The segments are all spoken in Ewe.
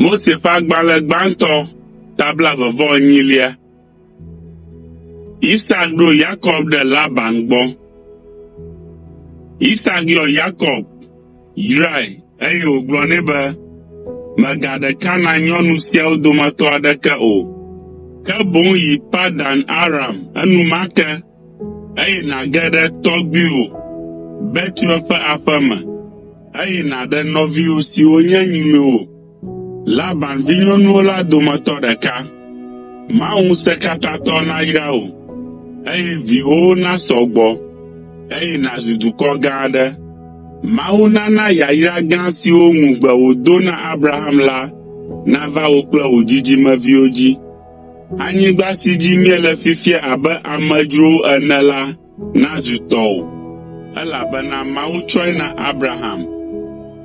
Mose ƒe agbalẽ gbãtɔ ta blaeve-vɔ-enyilia. Isak ɖo Yakob ɖe Laban gbɔ. Isak yɔ Yakob, yrae, eye wògblɔ nɛ be, Mègaɖe Kanaan nyɔnu siawo dometɔ aɖeke o, ke boŋ yi Padan Aram enumake eye nàge ɖe tɔgbuiwò Betuel ƒe aƒe me, eye nàɖe nɔviwò siwo nye nyinɔwo, Laban vinyɔnuwo la dometɔ ɖeka. Mawu Ŋusẽkatãtɔ nayra wò, eye viwòwo nasɔ gbɔ, eye nàzu dukɔ gã aɖe. Mawu nana yayra gã siwo ŋugbe wòdo na Abraham la nava wò kple wò dzidzimeviwo dzi. Anyigba si dzi míele fifia abe amedzrowo ene la nazu tɔwò, elabena Mawu tsɔe na Abraham.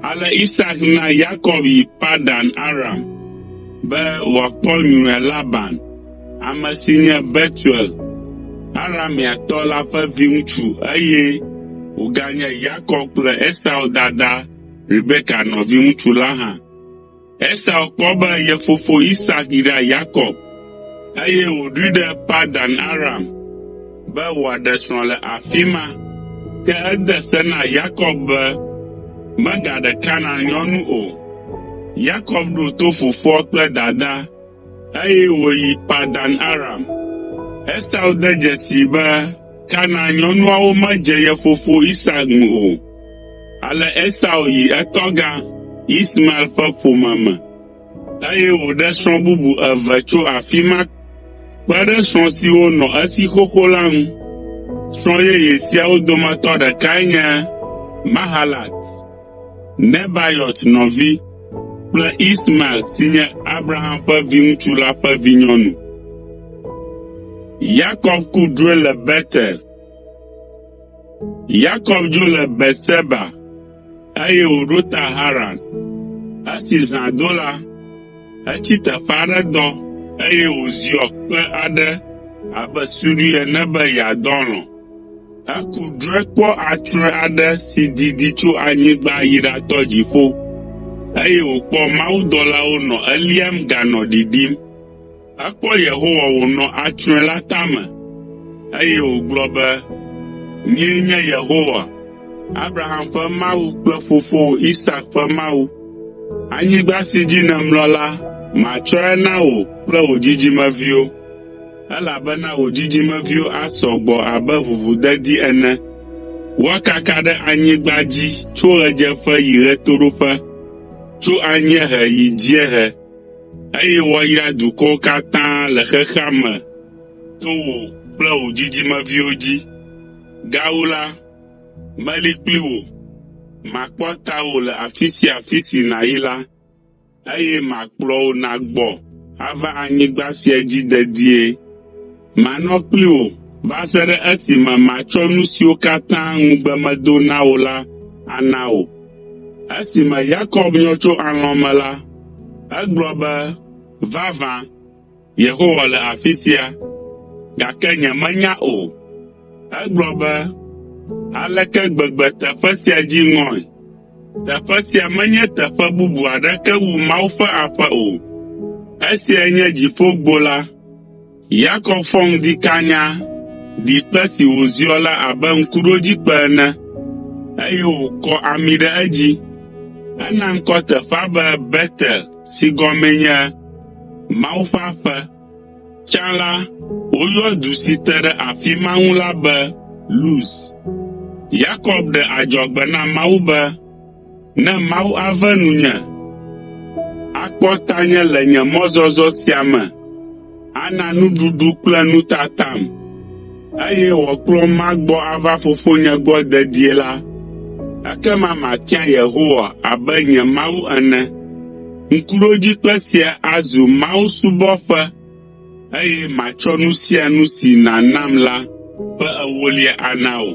Ale Isak na Yakob yi Padan Aram be wòakpɔ nyruia Laban, ame si nye Betuel, Arameatɔ la ƒe viŋutsu eye wòganye Yakob kple Esau dada Rebeka nɔviŋutsu la hã. Esau kpɔ be ye fofo Isak yra Yakob, eye wòɖoe ɖe Padan Aram be wòaɖe srɔ̃ le afi ma. Ke ede se na Yakob be megaɖe Kanaan nyɔnu o. Yakob ɖo to fofoa kple dadaa, Eye wòyi Padan Aram. Esau de dzesii be Kanaan nyɔnuawo medze ye fofo Isak ŋu o. Ale Esau yi etɔgã, Ismael ƒe ƒome me, eye wòɖe srɔ̃ bubu eve tso afi ma kpe ɖe srɔ̃ siwo nɔ esi xoxo la ŋu. Srɔ̃ yeye siawo dometɔ ɖekae nye Mahalat. Nebaiot nɔvi kple Ismael si nye Abraham ƒe viŋutsu la ƒe vinyɔnu. Yakob ku drɔ̃e le Betel. Yakob dzo le Beerseba eye wòɖo ta Haran. Esi zã do la, etsi teƒe aɖe dɔ eye wòziɔ kpe aɖe abe suɖui ene be yeadɔ alɔ̃. Aku drɔ̃e kpɔ atrɔ̃e aɖe si didi tso anyigba yi ɖatɔ dziƒo, eye wòkpɔ mawudɔlawo nɔ eliam ganɔ ɖiɖim. Ekpɔ Yehowa wònɔ atrɔ̃e la tame, eye wògblɔ be, “Nyee nye Yehowa, Abraham ƒe Mawu kple fofowò Isak ƒe Mawu. Anyigba si dzi nèmlɔ la, matsɔe na wò kple wò dzidzimeviwo.” Elabena wò dzidzimeviwo asɔ gbɔ abe ʋuʋudedi ene. Woakaka ɖe anyigba dzi tso ɣedzeƒe yi ɣetoɖoƒe, tso anyiehe yi dziehe, eye woayra dukɔwo katã le xexea me to wò kple wò dzidzimeviwo dzi. Gawu la, meli kpli wò, makpɔ tawò le afi sia afi si nàyi la. Eye makplɔ wò nàgbɔ ava anyigba sia dzi dedie. Manɔ kpli wò va se ɖe esime matsɔ nu siwo katã ŋugbe medo na wò la ana wò. Esime Yakob nyɔ tso alɔ̃ me la, egblɔ be, Vavã, Yehowa le afi sia, gake nyemenya o. Egblɔ be, Aleke gbegbe teƒe sia dzi ŋɔe! Teƒe sia menye teƒe bubu aɖeke wu Mawu ƒe aƒe o. Esiae nye Dziƒogbo la. Yakob fɔ ŋdi kanya ɖi kpe si wòziɔ la abe ŋkuɖodzikpe ene, eye wòkɔ ami ɖe edzi. Ena ŋkɔ teƒea be Betel. si gɔmee nye Mawu ƒe aƒe. Tsã la, woyɔa du si te ɖe afi ma ŋu la be Luz. Yakob ɖe adzɔgbe na Mawu be, “Ne Mawu ave nunye, akpɔ tanye le nye mɔzɔzɔ sia me, Ana nuɖuɖu kple nutatam, eye wòakplɔm magbɔ ava Fofonye gbɔ dedie la, ekema matia Yehowa abe nye Mawu ene. Ŋkuɖodzikpe sia azu mawusubɔƒe, eye matsɔ nu sia nu si nànam la ƒe ewolia ana wò.”